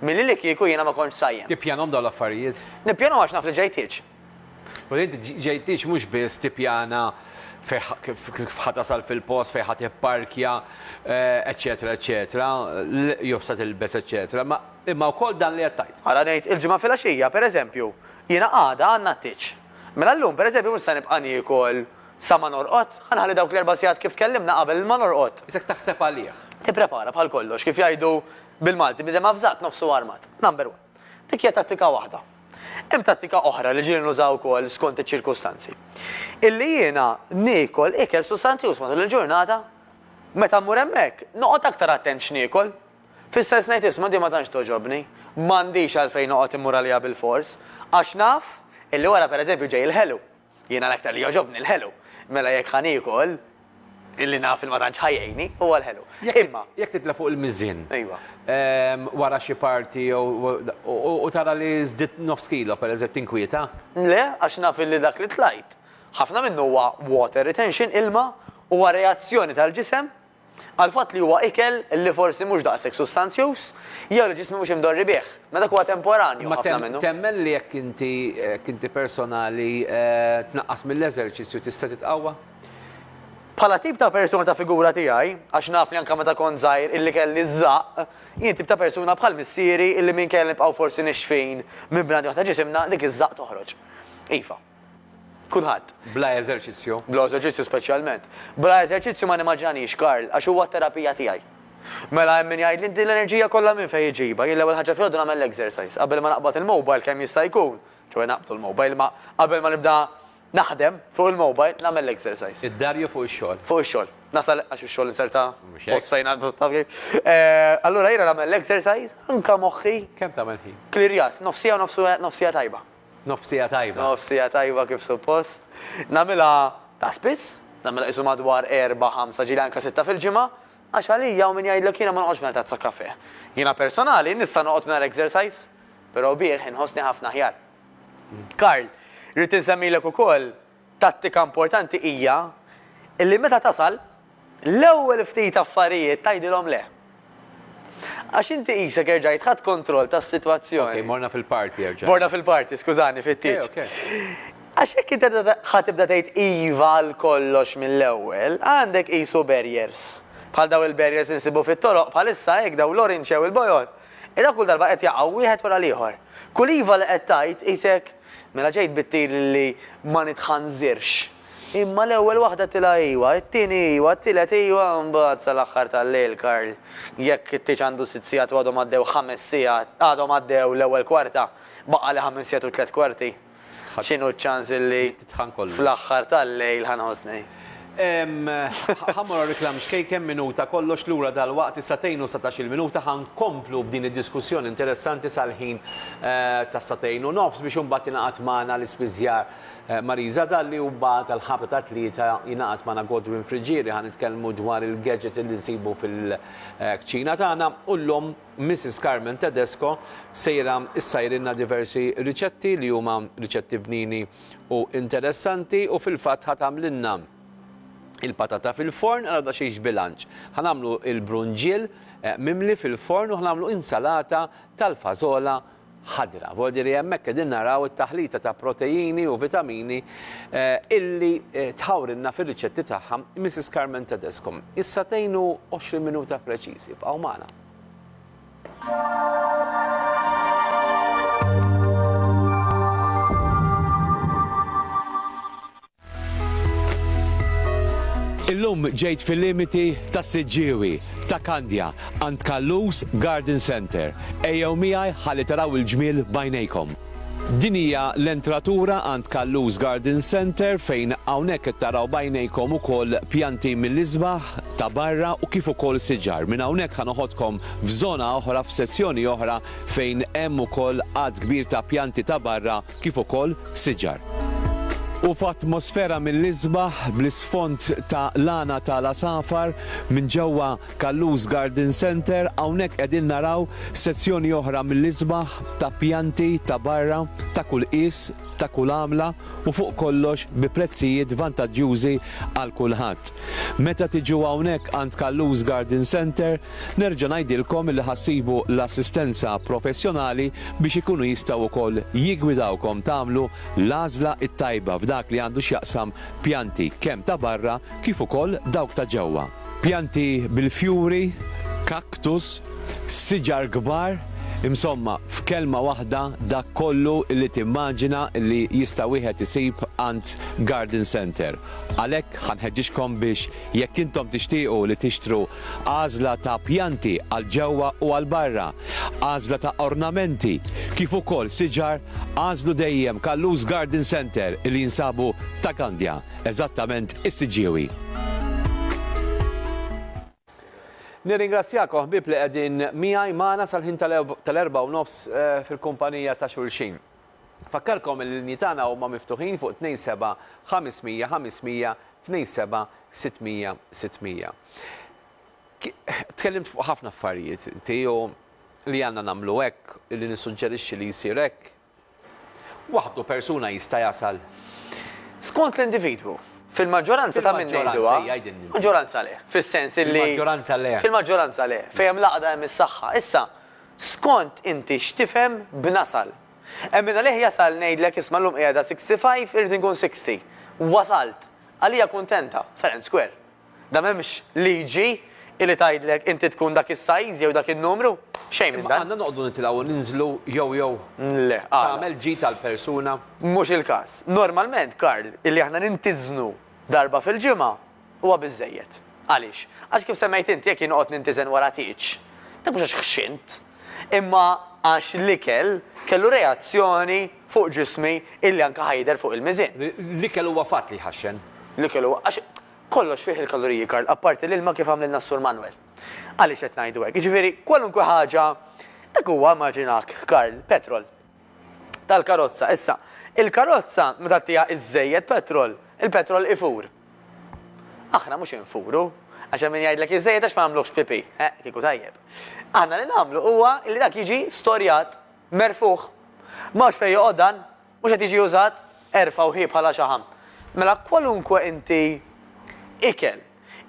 Milli li kieku jiena ma kontx sajjem. Tippjanhom dawn l-affarijiet? Nippjanhom għax naf li ġejtiex. U li inti ġejtiex mhux biss tippjana kif ħa tasal fil-post, fejn ħa tipparkja, eċċetera eċċetera, jew x'se tilbes eċċetera, imma wkoll dan li qed tgħid. Ara ngħid, il-Ġimgħa filgħaxija, pereżempju, jiena għada għandna t-tieġ. Mela llum, pereżempju, mhux se nibqa' niekol. Sa ma norqod? Ħa nħalli dawk l-erba' sigħat kif tkellimna qabel il-ma norqod. Isek taħseb għalih. Tipprepara bħal kollox, kif jgħidu bil-Malti, bniedem avżat nofsu armat. Number one. Dik hija tattika waħda. Hemm tattika oħra li ġieli nuża wkoll skont iċ-ċirkustanzi. Illi jiena niekol ikel sustanzjuż matul il-ġurnata. Meta mmur hemmhekk, noqgħod aktar attent x'niekol. Fis-sens ngħid isma' din ma tantx togħġobni. M'għandix għalfejn noqgħod immur għaliha bilfors. Għax naf illi wara pereżempju ġej il-ħelu. Jiena l-aktar li jogħġobni l-ħelu. Mela jekk ħa niekol, illi naf li ma tantx ħa jgħinni, huwa l-ħelu. Imma. Jekk titla' fuq il-miżien. Ejwa. Wara xi party jew u tara li żdidt nofs kilo pereżett tinkwieta? Le, għax naf illi dak li tlajt, ħafna minnu huwa water retention, ilma, huwa reazzjoni tal-ġisem għall-fatt li huwa ikel li forsi mhux daqshekk sustanzjuż jew li ġismi mhux imdorri bih, ma dak huwa temporanju ħafna minnu. Ma temmen li jekk inti, jekk inti personali, tnaqqas mill-eżerċizzju tista' titqawwa? Bħala tip ta' persuna ta' figura tiegħi, għax naf li anke meta kont żgħir illi kelli ż-żaqq, jien tip ta' persuna bħal missieri illi minkejja li nibqgħu forsi nixfin minn bnadi waħda ġisimna, dik iż-żaqq toħroġ. Iva. kulħadd. Bla eżerċizzju. Bla eżerċizzju speċjalment. Bla eżerċizzju ma nimmaġinaniex Karl, għax huwa t-terapija tiegħi. Mela hemm min jgħidli inti l-enerġija kollha minn fejn iġibha? Jien l-ewwel ħaġa filgħodu nagħmel l-exercise. Qabel ma naqbad il-mobile kemm jista' jkun, ċoe naqbdu l-mobile, imma qabel ma nibda naħdem fuq il-mobile nagħmel l-exercise. Id-dar jew fuq ix-xogħol? Fuq ix-xogħol. Nasal għax ix-xogħol inserta post fejn għandu taf kif. Eh, allura jiena nagħmel l-exercise anke moħħi. Kemm tagħmel ħin? Klirjat, nofsija u nofsija tajba. Nofsija tajba. Nofsija tajba kif suppost. Nagħmilha ta' spiss, nagħmilha qisu madwar erbgħa, ħamsa, ġieli anke sitta fil-ġimgħa, għax għalija hawn min jgħidlek jiena ma noqgħodx mingħajr tazza kafè. Jiena personali nista' noqgħod mingħajr exercise, però bih inħossni ħafna aħjar. Karl, rrid insemmilek ukoll Tattika importanti hija li meta tasal, l-ewwel ftit affarijiet tgħidilhom le. Għax inti qisek erġajt ħadt kontroll tas-sitwazzjoni. Ok, morna fil-party erġajna. Morna fil-party, skużani, fit-tieġ. Ok, ok. Għax jekk inti ħa tibda tgħid iva għal kollox mill-ewwel, għandek qisu barriers. Bħal dawn il-barriers li nsibu fit-toroq bħalissa hekk, dawn l-orinċe u l-bojod. Ira kull darba qed jaqgħu wieħed wara l-ieħor. Kull iva li qed tgħid qisek. Mela ġejt bit-tir li ma nitħanżirx. Imma l-ewwel waħda tilha iwa, it-tieni iwa, t-tielet iwa, mbagħad sal-aħħar tal-lejl Karl, jekk it-tieġ għandu sitt sigħat u għadhom għaddew ħames sigħat, għadhom għaddew l-ewwel kwarta, baqgħali ħames sigħat u tliet kwarti, x'inhu ċ-ċans li fl-aħħar tal-lejl ħa nħossni. Ħa mmorru għar-reklam xkejken, minuta kollox lura dalwaqt is-sagħtejn u satax-il minuta ħa nkomplu b'din id-diskussjoni interessanti sal-ħin tas-sagħtejn u nofs biex imbagħad jingħaqad magħna l-ispiżjar Marisa Dalli u mbagħad għall-ħabta tat-tlieta jingħaqad magħna Godwin Friggieri ħa nitkellmu dwar il-gadget li nsibu fil-kċina tagħna u llum Missis Carmen Tedesco sejra ssajrilna diversi riċetti li huma riċetti bnini u interessanti u fil-fatt ħa tagħmlilna il-patata fil-forn ara daqsxejn x'bilanċ. Ħa nagħmlu il-brunġiel eh, mimli fil-forn u ħa nagħmlu insalata tal-fażola ħadra. Vuol dire hemmhekk qegħdin naraw it-taħlita ta' proteini u vitamini eh, illi eh, tħawrilna fir-riċetti tagħha Mrs. Carmen Tedesco. Issa tgħinu 20 minuta preċiżi bqgħu magħna. Illum ġejt fil-limiti ta' Siġġiewi, ta' Kandja, għand Kallus Garden Center. Ejjew miegħi ħalli taraw il-ġmiel bajnejkom. Din hija l-entratura għand Callus Garden Centre fejn hawnhekk qed taraw b'għajnejkom ukoll pjanti mill-isbaħ ta' barra u kif ukoll siġar. Minn hawnhekk ħa noħodkom f'żona oħra, f'sezzjoni oħra fejn hemm ukoll għadd kbir ta' pjanti ta' barra kif ukoll siġar. U f'atmosfera mill-isbaħ bl-isfond ta' lana ta' l-għasafar minn ġewwa. Callus Garden Centre, hawnhekk qegħdin naraw sezzjoni oħra mill-isbaħ ta' pjanti ta' barra ta' kull qies, ta' kull għamla u fuq kollox bi prezzijiet vantaġġjużi għal kulħadd. Meta tiġu hawnhekk għand Callus Garden Centre, nerġa' ngħidilkom li ħa ssibu l-assistenza professjonali biex ikunu jistgħu wkoll jiggwidawkom tagħmlu l-għażla t-tajba f'dak li għandu x'jaqsam pjanti kemm ta' barra kif ukoll dawk ta' ġewwa. Pjanti bil-fjuri, cactus, siġar kbar, insomma, f'kelma waħda dak kollu li timmaġina li jista' wieħed isib għand garden centre. Għalhekk ħa nħeġġiġkom biex jekk intom tixtiequ li tixtru għażla ta' pjanti għal ġewwa u għal barra, għażla ta' ornamenti, kif ukoll siġar, għażlu dejjem Kallus Garden Centre li jinsabu ta' Gandja. Eżattament is-siġġiewi. Nirringrazzjakom ħbieb li qegħdin miegħi magħna sal-ħin tal-erba' u nofs eh, fil-kumpanija ta' xulxin. Fakkarkom li l-linji tagħna huma miftuħin fuq 27 500 500 27 600 600. Tkellimt fuq ħafna affarijiet inti li għandna nagħmlu hekk, li nissuġġerixxi li jsir hekk, waħdu persuna jista' jasal. Skont l-individwu. Fil-maġġoranza ta' min ngħiduha, maġġoranza le, fis-sens illi. Fil-maġġoranza le. Fil-maġġoranza le. Fejn hemm l-għaqda hemm is-saħħa. Issa, skont inti x'tifhem b'nasal. Hemm min għalih jasal ngħidlek isma' llum qiegħda 65 irrid inkun 60. Wasalt. Għalija kuntenta. Fair and square. Da m'hemmx liġi illi tgħidlek inti tkun dak is-size jew dak in-numru. Xejn minn Imma dan. għandna noqogħdu nitilgħu u ninżlu jew jew Le, għala? tagħmel ġid għall-persuna? Mhux il-każ. Normalment, Karl, illi aħna nintiżnu darba fil-ġimgħa huwa biżżejjed. Għaliex? Għax kif semmejt inti jekk jien noqgħod nintiżen wara tieġ, dak mhux għax ħxint. imma għax l-ikel kellu reazzjoni fuq ġismi illi anke ħa jidher fuq il-miżien. L-ikel huwa fatt li jħaxxen. L-ikel huwa, għax kollox fih il-kaloriji, Karl, apparti l-ilma kif għamlilna s-Sur Manwel. Għaliex qed ngħidu hekk? Jiġifieri kwalunkwe ħaġa, hekk huwa immaġinak, Karl, petrol tal-karozza. Issa, il-karozza meta ttiha iżżejjed petrol, il-petrol ifur. Aħna mhux infuru, għax hemm min jgħidlek iżżejjed għax ma nagħmluhx pipì. Eħ, kieku tajjeb. Aħna li nagħmlu huwa li dak jiġi storjat, merfugħ. M'hawnx fejn joqgħod dan, mhux qed jiġi użat, erfgħu hi bħala xaħam. Mela kwalunkwe inti ikel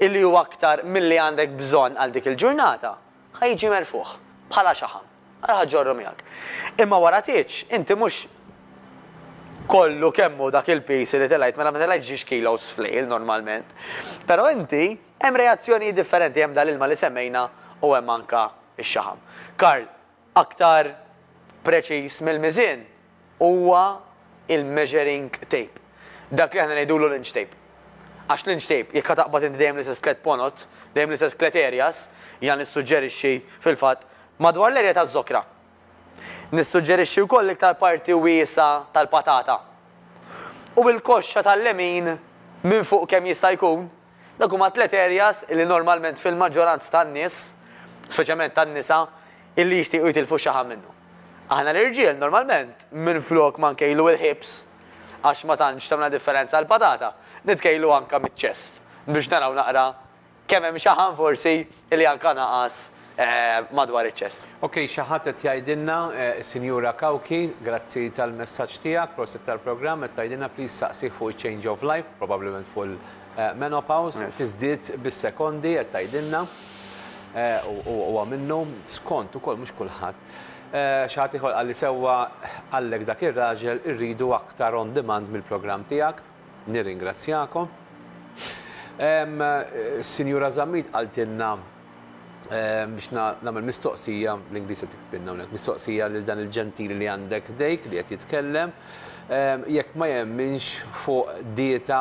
illi hu aktar milli għandek bżonn għal dik il-ġurnata, Ħa jiġi merfugħ, bħala xaħam. Ara ħa ġġorru miegħek. Imma wara tgħidx, inti mhux kollu kemm hu dak il-piż li telgħet, mela ma telgħetx ġiex kilos f'lejl normalment. Però inti hemm reazzjonijiet differenti, hemm dal-ilma li semmejna u hemm anke x-xaħam. Karl, aktar preċiż mill-miżien? huwa il-measuring tape. Dak li aħna ngħidulu l-inch tape. Għax l-inch tape, jekk ħa taqbad inti dejjem l-istess tliet ponot, dejjem l-istess tliet areas, jiena nissuġġerixxi, fil-fatt, madwar l-area taż-żokra. Nissuġġerixxi wkoll l-iktar parti wiesgħa tal-patata. U l-koxxa tal-lemin, minn fuq kemm jista' jkun, Dawk huma tliet areas illi normalment fil-maġġoranza tan-nies, speċjalment tan-nisa, illi jixtiequ jitilfu x-xaħam minnhom. Aħna l-irġiel normalment minflok ma nkejlu il-hips, għax ma tantx tagħmilna differenza l-patata, nitkejlu anke miċ-chest biex naraw naqra kemm hemm xaħam forsi Li anka naqas madwar iċ-ċest. Ok xi ħadd qed jgħidilna, is-Sinjura Cauchi, grazzi tal-messaġġ tiegħek, prosit tal-programm, qed tgħidilna please saqsih fuq iċ-change of life, probabbilment fuq il-menopause, tiżdied bis-sekondi qed tgħidilna. U huwa minnu, skont ukoll mhux kulħadd. Xi ħadd ieħor qalli sewwa, qallek dak ir-raġel irridu aktar on demand mill-programm tiegħek. Nirringrazzjakom. Is-Sinjura Zammit qaltilna biex nagħmel mistoqsija, bl-Ingliż qed tiktbilna hawnhekk, mistoqsija lil dan il-ġentili li għandek ħdejk li qed jitkellem, jekk ma jemminx fuq dieta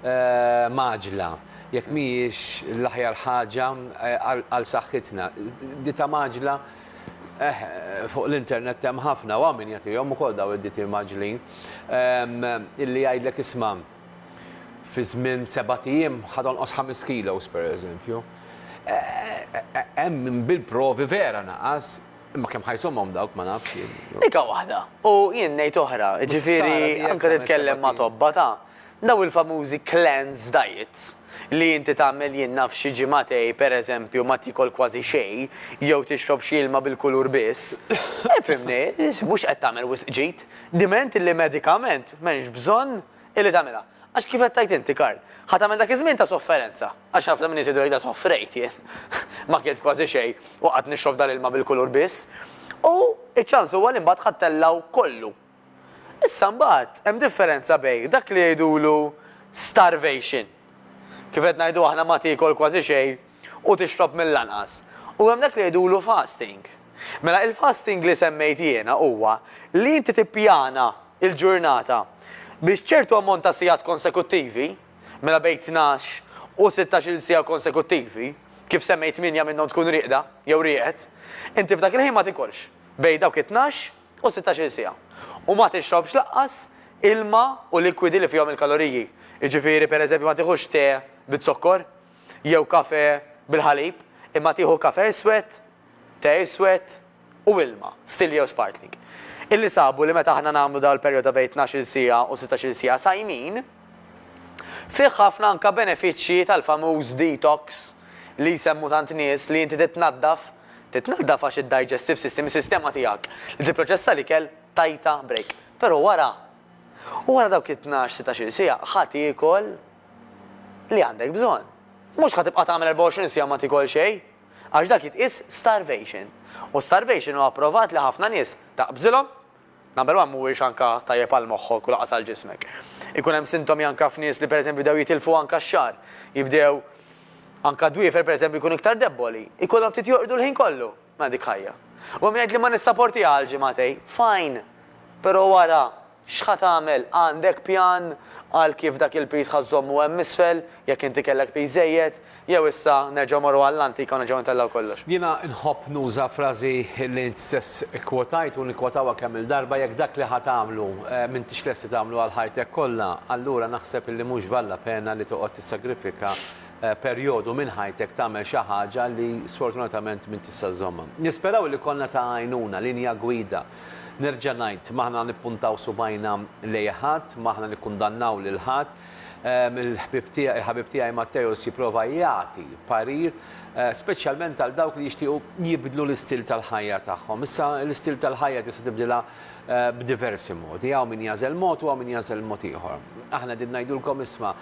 mgħaġġla, jekk mhijiex l-aħjar ħaġa għal saħħitna. Dieta mgħaġġla Eħ, fuq l-internet hemm ħafna, u hawn min jagħtihom ukoll dawn id-ditier mgħaġġlin, illi jgħidlek isma', fi żmien sebat ijiem ħa tonqos ħames kilos, pereżempju. Hemm min bil-provi vera naqas, imma kemm ħa jsomhom dawk ma nafx jien. Dik waħda, u jien ngħid oħra, jiġifieri anke titkellem ma' tobba ta' Dawn il-famużi cleanse diets, li inti tagħmel jien naf xi ġimagħtej pereżempju ma tiekol kważi xejn jew tixrob xi ilma bil-kulur biss, ifhimni, mhux qed tagħmel wisq ġid. Diment li medikament m'hemmx bżonn illi tagħmilha. Għax kif qed tgħid inti, Karl, ħa tagħmel dak iż-żmien ta' sofferenza. Għax ħafna min-nies jgħidu jgħidha sofrejt jien. Ma kilt kważi xejn u qgħadt nixrob dal-ilma bil-kulur biss. U ċ-ċans huwa li mbagħad ħadd tellgħu kollu Issa mbagħad hemm differenza bejn dak li jgħidulu starvation, kif qed ngħidu aħna ma tiekol kważi xejn u tixrob mill-anqas, u hemm dak li jgħidulu fasting. Mela il-fasting li semmejt jiena huwa li inti tippjana l-ġurnata biex ċertu ammont ta' sigħat konsekuttivi, mela bejn tnax u sittax-il siegħa konsekuttivi, kif semmejt tmienja minnhom tkun rieqda jew rieqed, inti f'dak il-ħin ma tikolx bejn dawk it-tnax, u sittax-il siegħa. U ma tixrobx lanqas ilma u likwidi li fihom il-kaloriji. Jiġifieri, per eżempju, ma tieħux te biz-zokkor jew kafè bil-ħalib, imma tieħu kafè iswed, te iswed u ilma, stilli jew sparkling. Illi sabu li meta aħna nagħmlu dan il-perjodu ta' bejn tnax-il siegħa u sittax-il siegħa sajmin, fih ħafna anke benefiċċji tal-famuż detox li jsemmu tant nies li inti titnaddaf Titnaddaf għax id-digestive system, is-sistema tiegħek li tipproċessa l-ikel, tajtha break. Però wara, u wara dawk it-tnax, sittax-il siegħa ħa tiekol li għandek bżonn. Mhux ħa tibqa' tagħmel 24 siegħa ma tiekol xejn, għax dak jitqies starvation. U starvation hu approvat li ħafna nies taqbżilhom Number one mhuwiex anka tajjeb għal moħħok u lanqas għal ġismek. Ikun hemm sintomi anka f'nies li pereżempju bdew jitilfu anka x-xagħar, jibdew anka dwiefer pereżempju jkunu iktar debboli, ikollhom ftit jorqdu l-ħin kollu. Mela dik ħajja. U hemm min jgħid li ma nissaportiha għal ġimagħtejn. Fine! Però wara, x'ħa tagħmel? Għandek pjan għal kif dak il-piż ħa żżommu hemm isfel, jekk inti kellek piż żejjed? Jew issa nerġgħu morru għall-antika u nerġgħu intellgħu kollox? Jiena nħobb nuża frażi li int stess ikkwotajt u nikkwotawha kemm-il darba, jekk dak li ħa tagħmlu m'intix lest li tagħmlu għal ħajtek kollha, allura naħseb li mhux valla pena li toqgħod tissagrifika perjodu minn ħajtek tagħmel xi ħaġa li sfortunatament m'int tista' żżommha. Nisperaw li konna ta' għajnuna, linja gwida. Nerġa' ngħid, m'aħna nippuntaw subgħajna lejn ħadd, m'aħna nikkundannaw lil ħadd, Il-ħbieb tiegħi, il-ħabib tiegħi Matteus jipprova jagħti parir, speċjalment għal dawk li jixtiequ jibdlu l-istil tal-ħajja tagħhom. Issa, l-istil tal-ħajja tista' tibdilha b'diversi modi. Hawn min jagħżel mod u hawn min jagħżel mod ieħor. Aħna qegħdin ngħidulkom isma'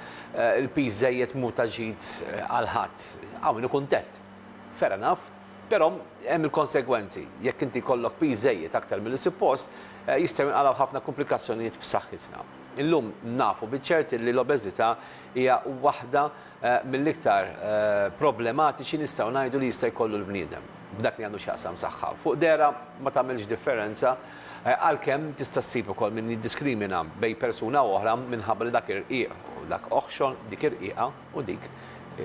il-piż żejjed mhu ta' ġid għal ħadd. Hawn min hu kuntent. Fair enough. Però hemm il-konsegwenzi. Jekk inti jkollok piż żejjed aktar milli suppost, jistgħu jinqalgħu ħafna kumplikazzjonijiet f'saħħitna. Illum nafu biċ-ċert li l-obeżità hija waħda mill-iktar problematiċi nistgħu ngħidu li jista' jkollu l-bniedem, f'dak li għandu x'jaqsam saħħa. Fuq dehra ma tagħmilx differenza, għalkemm tista' ssib ukoll min jiddiskrimina bejn persuna u oħra minħabba li dak irqiq u dak oħxon, dik irqiqa. U dik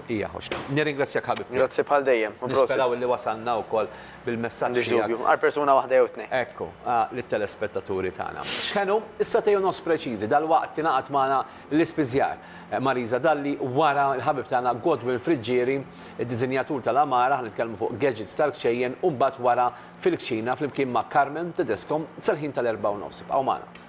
hija ħoxna. Nirringrazzjak ħabibti. Grazzi bħal dejjem. Nisperaw illi wasalna wkoll bil-messaġġ. M'għandix dubju. Għal persuna waħda jew tnejn. Ekku, lit-telespettaturi tagħna. X'kenu s-satej u nofs preċiżi, dalwaqt tingħaqad magħna l-ispiżjar Marisa Dalli wara l-ħabib tagħna Godwin Friggieri, id-diżinjatur tal-għamara, ħa nitkellmu fuq gadgets tal-kċejjen u mbagħad wara fil-kċina flimkien ma' Carmen Tedesco sal-ħin tal-erbgħa u nofs. Ibqgħu magħna.